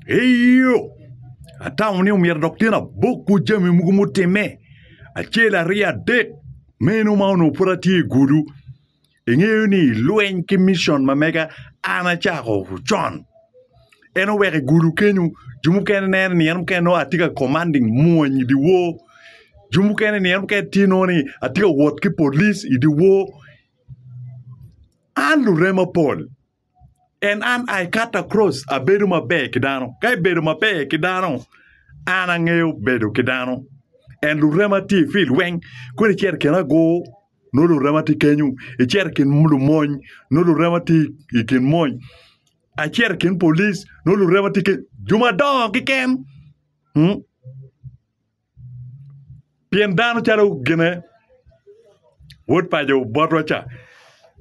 Eyo, atamo ni omyero dok tyen abokwu jami mogo mutimme acel aryo adek meno ma onongo pud atye i gudu. Ingeyo ni lweny ki mission ma mega an acako con. En oweko i gudu kenyo jo mukene neno ni en mukene nongo atye ka commanding mwony i dye wor. Jo mukene ni en mukene tye nongo ni atye ka wot ki police i dye wor. An lurem mapol. and an I cut across abedo maber ki dano ka ibedo maber ki dano an angeyo bedo ki dano and lurema tye i field weng kodi icito i kin agur nongo lurema tye kenyo icito i kin lumony nongo lurema tye i kin mony acito i kin police nongo lurema tye kenyo jo madongo keken. Pien dano calo gine wod paco botwa ca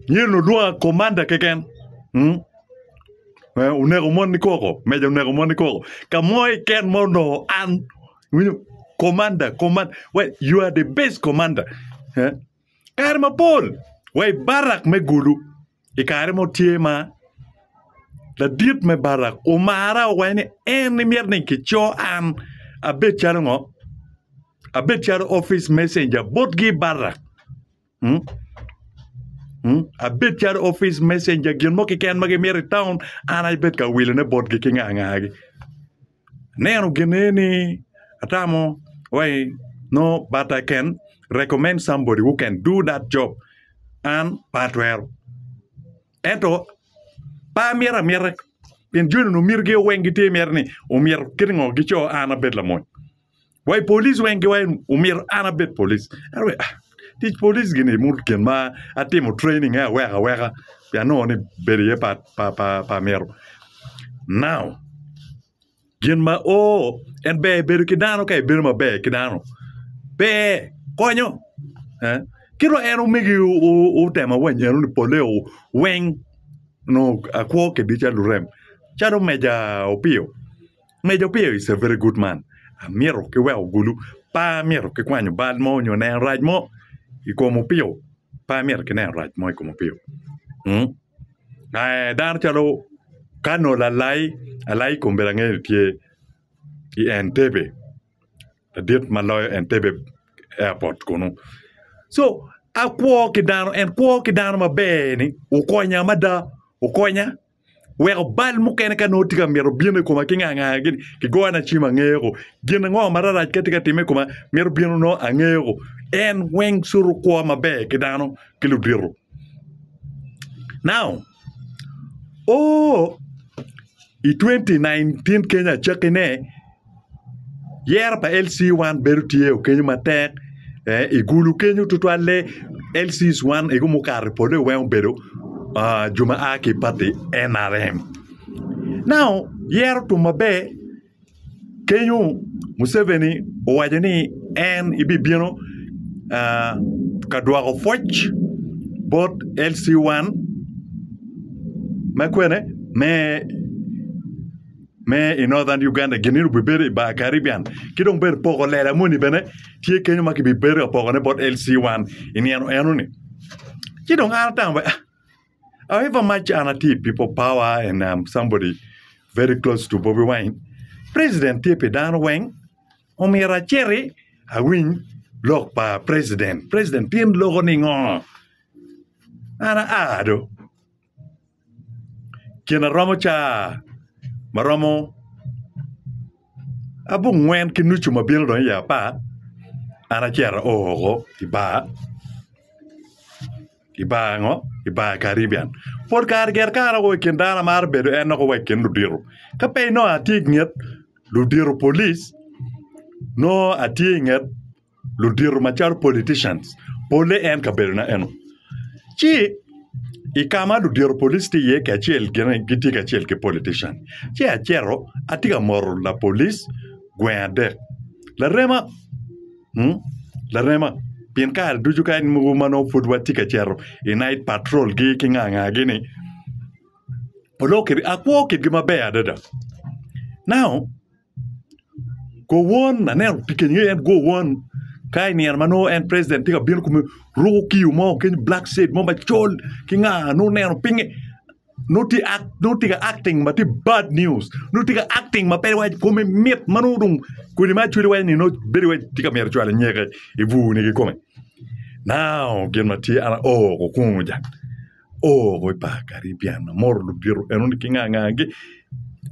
myero ni olwonga komanda keken mm? Eh, oneko mon ni koko meja oneko mon ni koko ka mo iken ma onongo an winyo komanda komanda well you are the best commander eh? Kare mapol wa i Barak me Gulu, i kare mo tye ma ladit me Barak omara owaco ni en myero ni kicor an abed calo ngo? Abed calo office messenger botgi i Barak. Mm? Mm? Abed calo office messenger gin mo keken ma gimyero i taun an aye bed ka wilone botgi ki nga ngagi. Neno gene ni atamo wai no but I can recommend somebody who can do that job an pe atwero ento pe amyero amyera pien joni onongo mitigi weng gitye mere ni omyero kit ngo gico an abed lamony Wa i police weng ki wa en omyero an abed police. En owe, ah, tic police gini mur gin ma atimo training e aweka aweka pien anongo ni bedo iye pa, pa, pa, pa myero. Now, gin ma o en ber bedo ki dano ka ibedo maber ki dano ber konyo eh? ki dong en omegi o- o- otema wa nyeno ni pole o weng nongo akwo kedica lurem calo meja opiyo Medo piyo is a very good man amito ki weko gulu pa amito ki kwanyo bal mo nyo neno rac mo i kom opio pa amito ki neno rac mo i kom opio mm aee dano calo kano lalai alai kombe angeyo ni tye i entebe ladit ma loyo entebe airport kunu so akwo ki dano en kwo ki dano maber ni okonya mada okonya weko bal mukene ka nongo tye ka mito bino i koma ki nga nga gini kigona cim angeyoko gin ango ma rarac ka tye ka timme i koma mito bino nongo angeyoko en weng cutu kwo maber ki dano ki ludito now oo i twenty nineteen keny acakki ne Yero pa LC one bedo tye o kenyo matek i gulu kenyo tutwalle LC one egu mukato i pole weng obedo jo ma a ki pati NRM now yero otum maber kenyo Museveni owaco ni en bibino ka dwoko pwoc bot LC one ma kwene me me i Northern Uganda gin eno bibedo i bar Caribbean ki dong bene poko lela moni bene tye kenyo ma kibibedo ka pokone bot LC1 i nino enoni ci dong an atamo bene however much an atye i people power and am somebody very close to Bobi Wine president tye pi dano weng omyero aciti awiny lok pa president, president tyen loko ningo? An aa do. Ceng aromo caa ma romo abongwen ki nucu ma bino dong iye apar an acito ao woko i bar i bar ango i bar karibian pol kare gire ka an aye wa i kin dano amarö bedo en dok aye wa i kin ludito ka pe inongo atye i nget ludito polic nongo atye i nget ludito macalo politicians pole en kabedona eno ci i ka ma ludito police tye iye kacel gin aye gitye kacel ki politician ci acito atye ka moto lapolis gweng adek larema larema pien kare ducu ka mogo ma nongo pud watye ka cito i nait patrol gi ki nga nga gini onongo kit akwo kitgi maber adada now Gowon aneno pikeng aye en gowon ka i nino ma nongo en president tye ka bino kome ruko kiyo mo kenyo black state mo macol ki nga nongo ineno pinye nongo tye act nongo tye ka acting ma tye bad news nongo tye ka acting ma pe iwaco kome mit ma nongo dong kodi ma acwele iwaco ni nongo bedo iwaci tye ka myero cwalo nyeke ibur ni kikome now gin ma tye an aoko kungu ja Oo, wai pa Caribbean amoro ludito enoni ki nga nga gi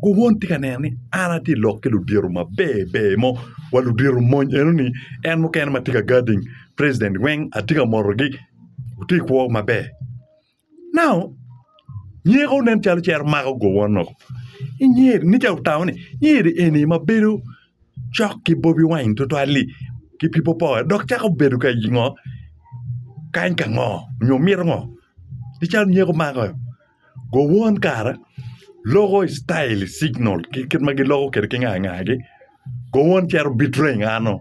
guwon tye ka neno ni an atye ka lok ki ludito maber ber mo wa ludito mony enoni en mukene ma tye ka guarding president weng atye ka motogi gitye i kwo maber now nyeko nen calo cito mako gowon woko inge ni ca otamo ni nge ni eni ma bedo cok ki Bobi Wine tutwal-li ki Pipo Power dok cako bedo ka i ngo, kany ka ngo nyo mito ngo? Pi calo nyeko mako gowon kara loko i tail i signal ki kit ma giloko kwede ki ngangagi gowon cito bitreng ano?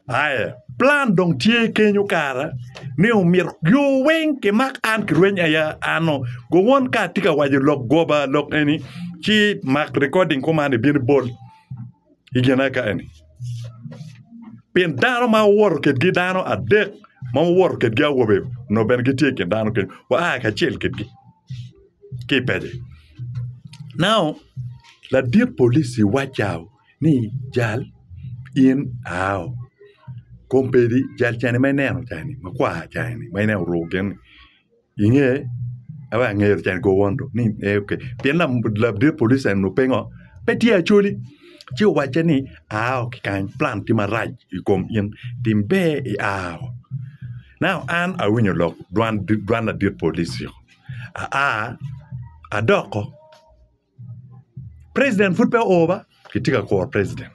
Aye, plan dong tye kenyo kara ni omyero jo weng kimak an kirweny aya ano go won ka atye ka waco lok goba lok eni ci mak recording kuman ibin ibol i gin aka eni pi dano ma wuwoto kedgi dano adek ma wuwoto kedgi awobe nongo bene gitye i kin dano kenyo wa a kacel kedgi ki i pec-ci. Now ladit polici waca ni jal in aao kom pedi jal cani ma ineno cani makwar cani ma ineno oruko gin ni inge ento angeyo cani kor won dong ni ee ok pien ladit police eni onongo pe ngo pe tye acholi ci owacce ni aao ki kany plan tye marac i kom in tim ber i aao now an awinyo lok dwan ladit police-ci aa adoko President pud pe oo ba kitye ka kuro president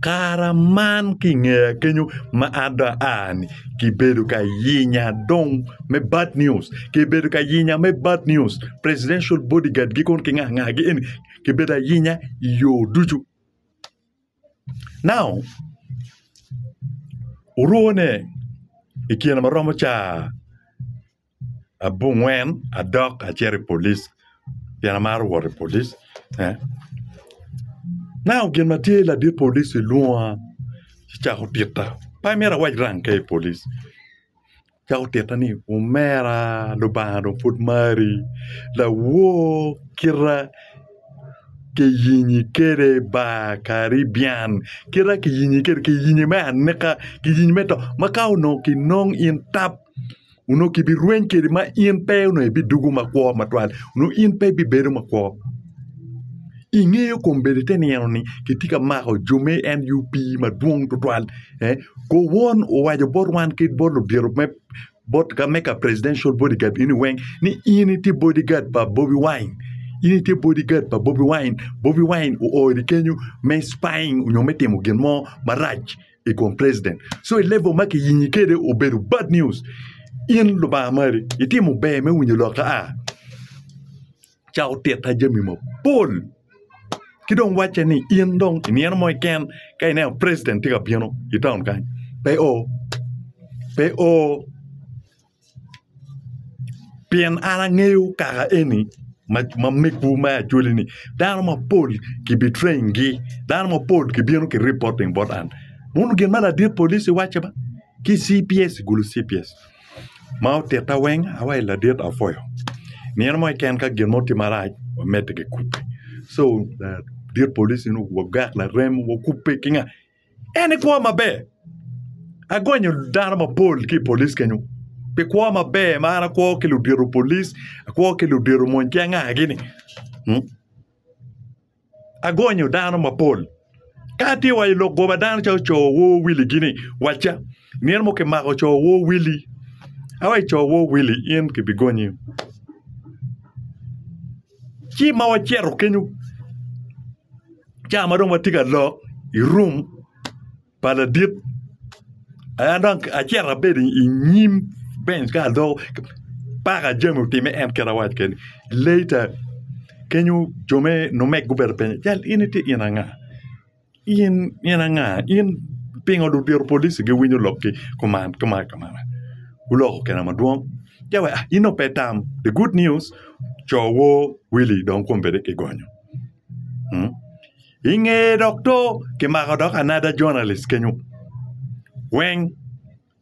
kara man ki ingeya kenyo ma an dong aani kibedo ka yinya dong me bad news kibedo ka yinya me bad news presidential body guard gi kong ki nga nga gi eni kibedo ayinya i yo ducu now orwo ne i kine ma romo caa abungwen adok acito i police pien amaro wot i police nano gin ma tye ladit police lwonga ci cako tika pe amito awac rang ka i police cako tika ni omera lubanga dong pud mari lawor kita kiyingi kwede bar karibian kita kiyingi kwede kiyingi me anika kiyingi me to ma ka onongo kinong in tap. onongo kibirweny kede ma in pe onongo ibidugo makwo matwal onongo in pe ibibedo makwo ingeyo kombeddi ite nino ni kitye ka mako jami en UP madwong tutwal ko won owaco bot wan ki bot ludito me bot ka me ka presidential body guard eni weng ni in itye body guard pa Bobi Wine in itye body guard pa Bobi Wine, Bobi Wine oori kenyo me spying onyo me timo gin mo marac i kom president so i level ma kiyinyi kwede obedo bad news in lubanga mari itimo ber me winyo lokke a ca otita jami mapol ki dong wacce ni in dong i nino mo keken ka ineno president tye ka bino i taun kany pe o pe o pien an angeyo kaka eni ma megwu me acholi ni dano mapol ki bi train gi dano mapol ki bino ki reporting bot an wun gin ma ladit police waco ba ki cps gulu cps ma otitta weng awaco ni ladit apuoyo nino mo keken ka gin mo tye marac wa medde ki kubbe so ladit police ni wagak larem wa kubbe ki nga En ni kwo maber. Agonyo dano mapol ki i polic kenyo pi kwo maber ma an akwo ki ludito polic, akwo ki ludito mony ki angagi ni. Agonyo dano mapol. Ka atye wa i lok goba dano calo co wor Wili gi ni wacca nino mo kimako co wor Wili awa i co wor Wili in kibigonyi. Ci ma wacito kenyo ca ma dong watye ka lok i rum pa ladit an dong acito abedo i nyim benc ka adoko paka jami otimme en kit ma awaco keni later kenyo jo me numeg gubedo penyo jal eni tye in anga? In in anga in pingo dong otito polici giwinyo lokgi kuman kuman kuman guloko kena madwong ja wa in dong pe itam the good news co wor Wili dong kombeddi kigonyo inge dok to kimako dok another journalist kenyo weng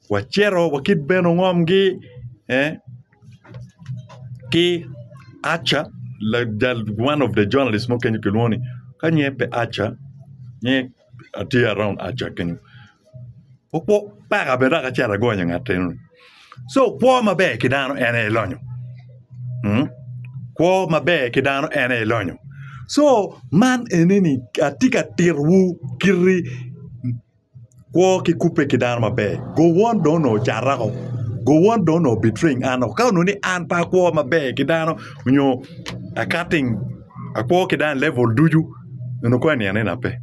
Wacito wakit bene ongomgi ki Archer one of the journalist mo kenyo kilwongo ni ka nyinge pe Archer nyinge tye around Archer kenyo okwo peka bene dok acito agonyo ngat enoni so kwo maber ki dano en aye lonyo kwo maber ki dano en aye lonyo so man enini atye ka titowu kiti Kwo ki kubbe ki dano maber. Gowon dong onongo ocata woko. Gowon dong onongo obitreng an woko. Ka onongo ni an pe akwo maber ki dano nyo akating akwo ki dano i level ducu onongo kong eniang nena pe.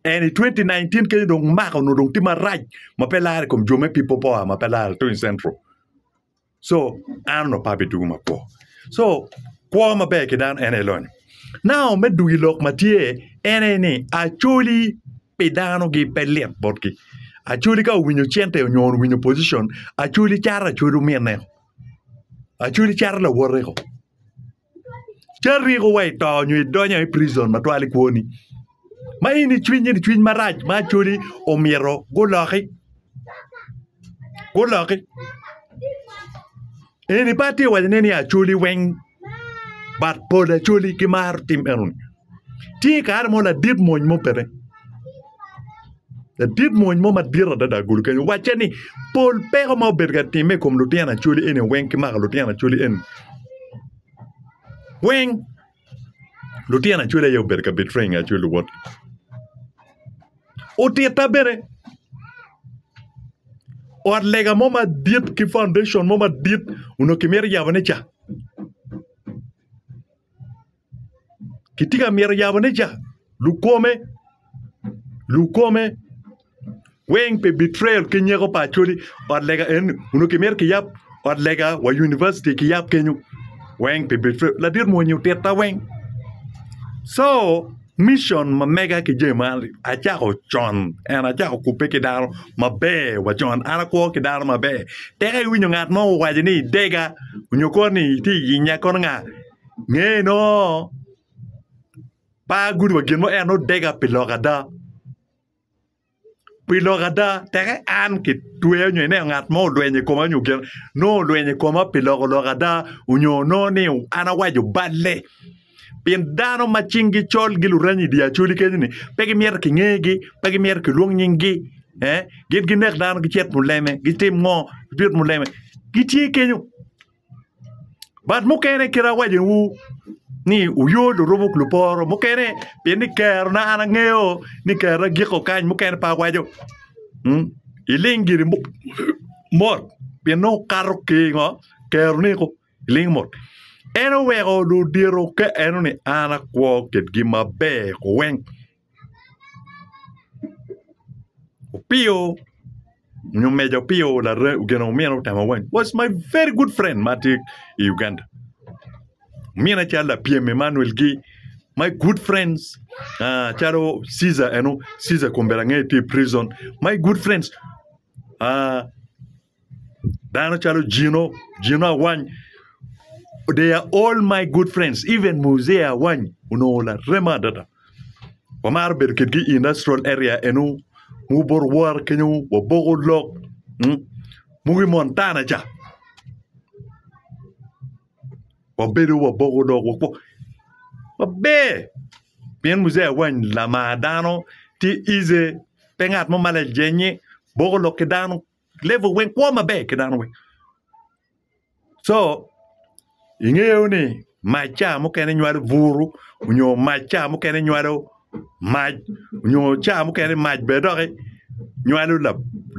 Eni i twenti naintin kenyo dong maka onongo dong tye marac ma pe lare i kom jo me Pipo Power ma pe lare tung i Central. So an onongo apa abitugo makwo. So kwo maber ki dano en aye lonyo. Now me dwogo i lok ma tye en aye ni acoli pi dano gi pe lit botgi. Acoli ka owinyo cente nyo owinyo position acoli cato acwod ominne ko. Acoli cato lawote ko. ci ariko wa ito nyo idonyo i prison matwal i kwoni ma in i cwiny in cwiny marac ma actually omyero guloki guloki in ipa ti iwaco ne ni acholi weng but pol acholi gimaro tim enoni tye i kare mo ladit mony mo bene ladit mony mo madit adada agulu kenyo wacce ni pol peko ma obedo ka timme i kom lutino acholi eni weng ki mako lutino acholi eni weng lutino acholi aye obedo ka bitryo i nge acholi luwotgi otitta bene ot lega mo madit ki paundecon mo madit onongo kimito yabone ca. Kitye ka myero yabone ca lukome lukome weng pi betrayal ki nyeko pa Acholi ot lega enoni onongo kimito kiyab ot lega wa univicity kiyab kenyo weng pi betrayal ladit muni onyo tita weng co mission ma mega ki jami man acako con and acako kubbe ki dano maber wa con an akwo ki dano maber tek iwinyo ngat mo owaco ni idega onyo koni itye iyinya kono nga. Ngeye nongo par gudo wa gin mo en odega pi lok ada. Pi lok ada teke an kitweya nyo ineno ngat mo olwenyo i koma nyo gin nongo olwenyo i koma pi loko lok ada onyo nongo ni an awaco balle. Pien dano ma cinggi col gi luranyi i dye acoli kenyo ni pe gimyero kingegi, pe gimyero kilwong nyinggi eeh gin ginek dano gicit muleme gitim ngo gibit muleme gitye kenyo. But mukene kite awacowu ni wuyo lurumo luporo mukene pien ni kerona an angeyo ni kerona giko kany mukene pe awaco iling giri mot pien nongo wukato ki i ngo keroni koko iling mot en oweko ludito ka enoni an akwo kitgi maber weng. Opiyo nyo meja Opiyo ogeno omyero otama wang was my very good friend ma tye i Uganda omyero acal lapyem Emmanuel gi my good friends calo Ceasar eno Ceasar kombeddi angeyo tye i prison my good friends. Dano calo Jino, Jino Awany, they are all my good friends. Even Muzee Awany onongo larema adada. Wamaro bedo kitgi i industrial area enu, mugu bot war kenyo, waboko lok, mm, mugu i Montana ca. Wabedo waboko lok, wako. Waber! Pien Muzee Awany lamar dano, tye ize, pe ngat mo ma lajenye, boko lok ki dano, level weng kwo maber ki dano weng so ingeyo ni mac ca mukene nywalo buru onyo mac ca mukene nywalo mac onyo ca mukene mac bene doki nywalo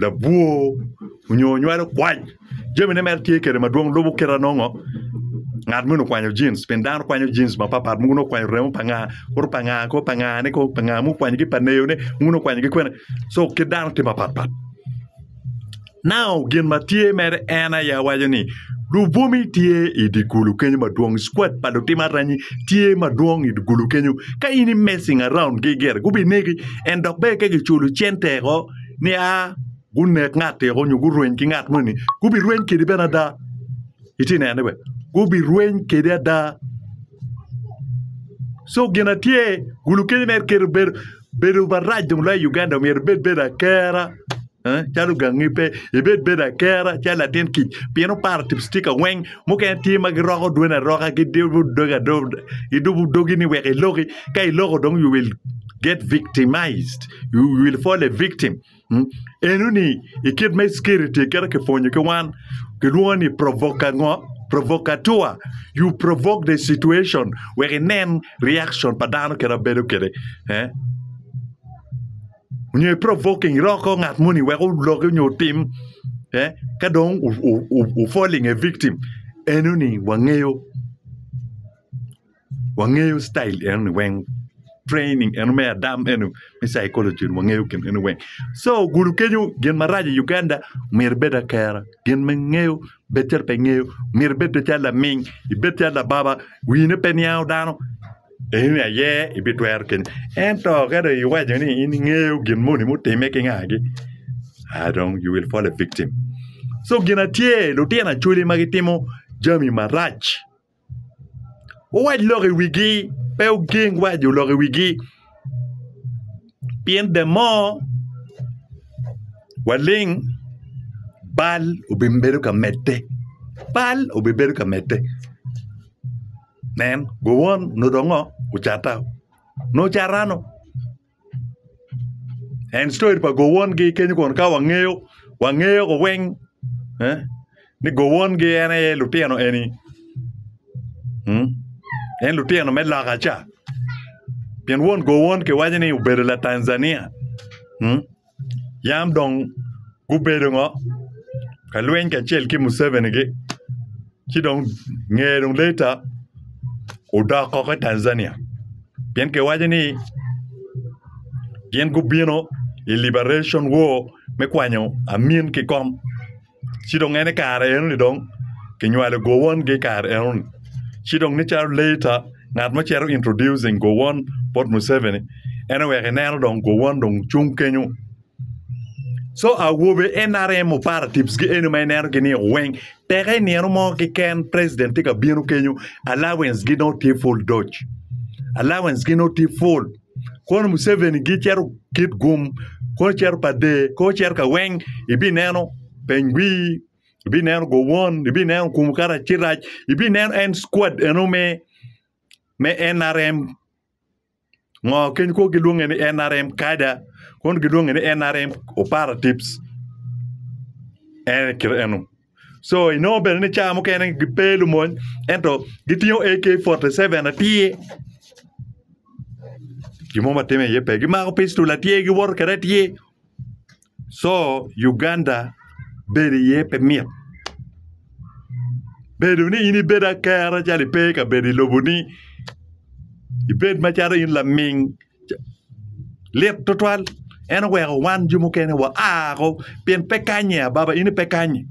labwor onyo nywalo kwac jami ne mere tye kede madwong lubo kite anongo ngat moni okwanyo jeans pien dano kwanyo jeans mapat pat mogo nongo okwanyo remo pa nga kore pa nga kore pa nga ne kong pa nga mogo okwanyo gi pa neyone mogo nongo okwanyo gi kwene so kit dano tye mapat pat Nao gin ma tye mere en aye awaco ni lubwome tye i dye kulu kenyo madwong squad pa lutimo aranyi tye madwong i dye kulu kenyo ka in i messing around gi gire gubinegi and dok bene ka kiculo cente woko niya gunek ngat-ti woko nyo gurweny ki ngat moni gubirweny kwedi bene ada. Itye ka nene bene? Gubirweny kwede ada. Co gin ma tye gulu kene mere kit ma bedo bedo marac dong loyo i Uganda myero ibed bedo akera calo gangi pe ibed bedo akera calo latin kic pien oparo tipo citika weng mukene tye ma giroko dweni aroka gidubo dogi adoba gidubo dogi ni wek iloki ka iloko dong you will get victimised you will fall a victim. Enoni i kit me civility kit ma kipwonyo ki wan kilwongo ni provoke ango provocateur you provoke the situation wek inen reaction pa dano kit ma bedo kwede nyo i provoking iroko ngat moni wek oloki nyo otim ka dong falling a victim enoni wangeyo. wangeyo citayil eno ni weng training eno me adam eno me caikolocin ni wangeyo gin eno weng so ogudo kenyo gin marac i Uganda myero ibed akera gin ma ingeyo bed calo pe ingeyo myero ibed bed calo laming ibed calo lababa wine pe niango dano eno ni aye ibitwero kenyo ento ka dong iwaco ni in ingeyo gin moni mutime ki ngagi a dong you will fall a victim so gin na tye lutino acholi ma gitimo jami marac Wuwac lok i wigi, pe wugeng waco lok i wigi pien the more waling bal obibedo ka medde bal obibedo ka medde nen gowon onongo ngo? Ocatta nongo ocattano. En story pa gowongi kenyo kun ka wangeyo wangeyo ko weng eh ni gowongi en aye lutino eni mm en lutino me loka ca pien won gowon kiwaco ni obedo latanzania mm. Yam dong gubedo ngo ka lweny kacel ki Museveni gi ci dong ngeye dong later odok koko i Tanzania pien kiwaco ni gin gubino i liberation war me kwanyo amin ki kom. Ci dong en i kare eno-ni dong kinywalo gowon-gi i kare eno-ni. Ci dong nicalo later ngat mo cito introducing gowon bot Museveni en oweko ineno dong gowon dong cung kenyo. Co awobe nrm operatives gi eno ma inenogi-ni weng teke i nino mo keken president tye ka bino kenyo allowance-gi nongo tye pud doc. Allowance-gi nongo tye pud. kono Museveni gicito kit gum kono cito pa der kono cito ka weng ibineno peny wii ibineno gowon ibineno okumu karacirac ibineno en squad eno me me NRM ngo keny kono gilwonge ni NRM kada kono gilwonge ni NRM operatives en kit eno. Co inongo bene ni cawa mukene gipe lumony ento gitingo AK 47 atir gin mo matime iye pe gimako pistol atir giwoto kwede atir co Uganda bedo iye pe mit bedo ni in ibed akera calo ipe i kabedo i loboni ibed macalo in laming lit tutwal en oweko wan jo mukene wa ko pien pe kanye ababa in pe kanyi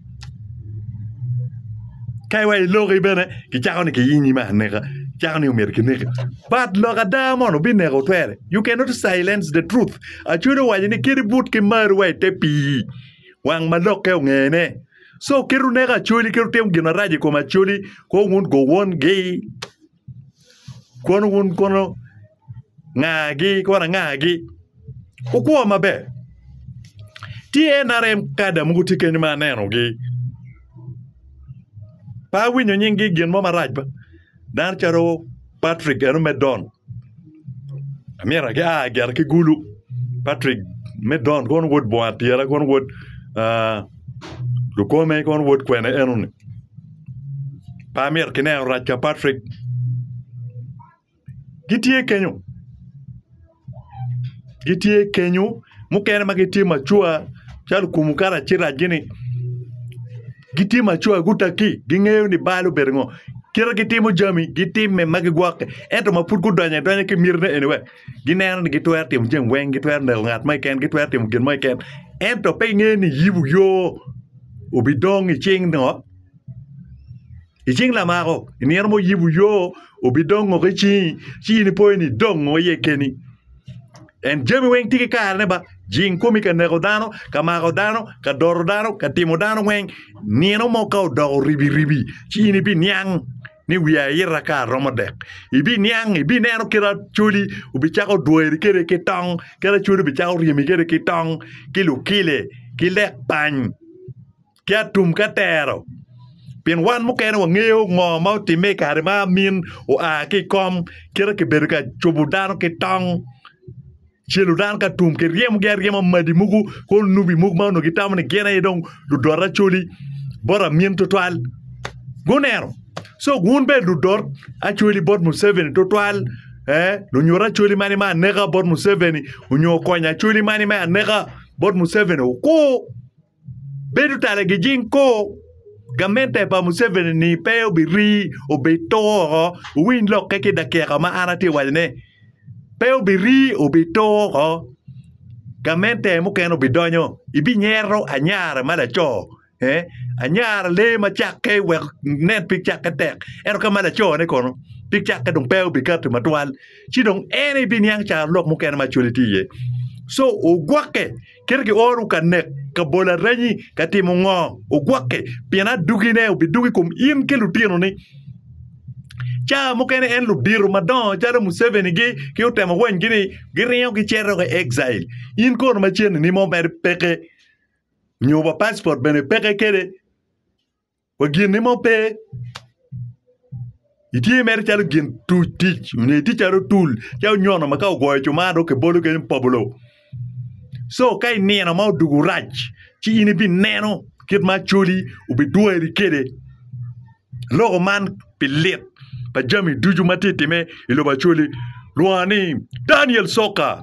ka iwa i loki bene kicako ni kiyingi me aneka cako ni omyero kineki but lok ada mono bineko twere you cannot silence the truth acwele owaco ni kit ibut ki mar wa ite pii wang ma lokke ongene so kit ineko acwali kit itimo gin marac i kom acwali kong wun go wongi. Kono wun kono ngagi kono angagi wukwo maber tye nrm kada mogo tye keny ma anenogi pe awinyo nyingi gin mo marac ba dano calo Patrick eno me Don amyero gia gire ki gulu Patrick me Don kono wod bongo adyela kono wod lukome kono wod kwene enoni. Pe amyero ki neno rac ka Patrick. Gitye kenyo. Gitye kenyo. Mukene ma gitye macua calo okumu karaci racgi-ni gitye macua gutaki gingeyo ni bal obedo ngo. Kite gitimo jami gitimme ma gigwokke ento ma pud gudonyo adonya ki mitine eni wek gineno ni gitwero timo jami weng gitwero neko ngat mo keken gitwero timo gin mo keken ento pe gingeyo ni yibu yo. obidong i cing ngo i cing lamako i nino ma oyibo yo obidong ngo ki cingi ci in ipo ni idong ngo iye keni en jami weng tye ki karene ba jing komi ka neko dano ka mako dano ka doro dano ka timo dano weng nino mo ka odoko ribiribi ci in ibiniang ni wiye aita ka aromo dek ibiniang ibineno kit acholi obicako dwoyeri kede ki tong kit acholi obicako ryemi kede ki tong ki lukile ki lek pany ki atum ka tero pien wan mukene wangeyo ngo ma otimme i kare ma amin oa ki i kom kite kibedo ka cobo dano ki tong Ce ludan ka tum kiryemogi aryema madi mogo kor nubi mogo ma onongo gitamo ni gin aye dong ludot acoli bot amin tutwal guneno so wun bene ludot acoli bot Museveni tutwal eh lunyut acoli mani me aneka bot Museveni onyo okony acoli mani me aneka bot Museveni okur Bedo tala gijing kor gamente pa Museveni ni pe obirii, obitur woko, wuwiny lokke ki dakika ma an atye ka waco ne, pe obirii, obitur woko, gamente mukene obidonyo, ibinyero anyara ma laco, eeh, anyara lee ma cakke wek inen pig cakke tek, ento ka ma laco ne kono pig cakke dong pe obikati matwal, ci dong en aye ibiniang caro lok mukene macol itye iye, so ogwokke. Kit gioro ka nek kabol aranyi ka timo ngo? Ogwokke, pien adugine obidug i kom in ki lutinoni. Caa mukene en ludito madongo calo Museveni gi ki otemo weny gi ni giringo gicito ki exile. In kono maceni ni mo mere peke nyo wa passport bene peke kede. wa gin mo pe itye mere calo gin tuc tic nyo itye calo otul calo onyono ma ka ogoyo cumaa dong kibolo kene ni pobulo co ka i nino ma odwogo rac ci in ibineno kit ma Acholi obidweri kwede loko man pi lit pa jami ducu ma tye ka timme i lobo Acholi lwongo ni Daniel Coka.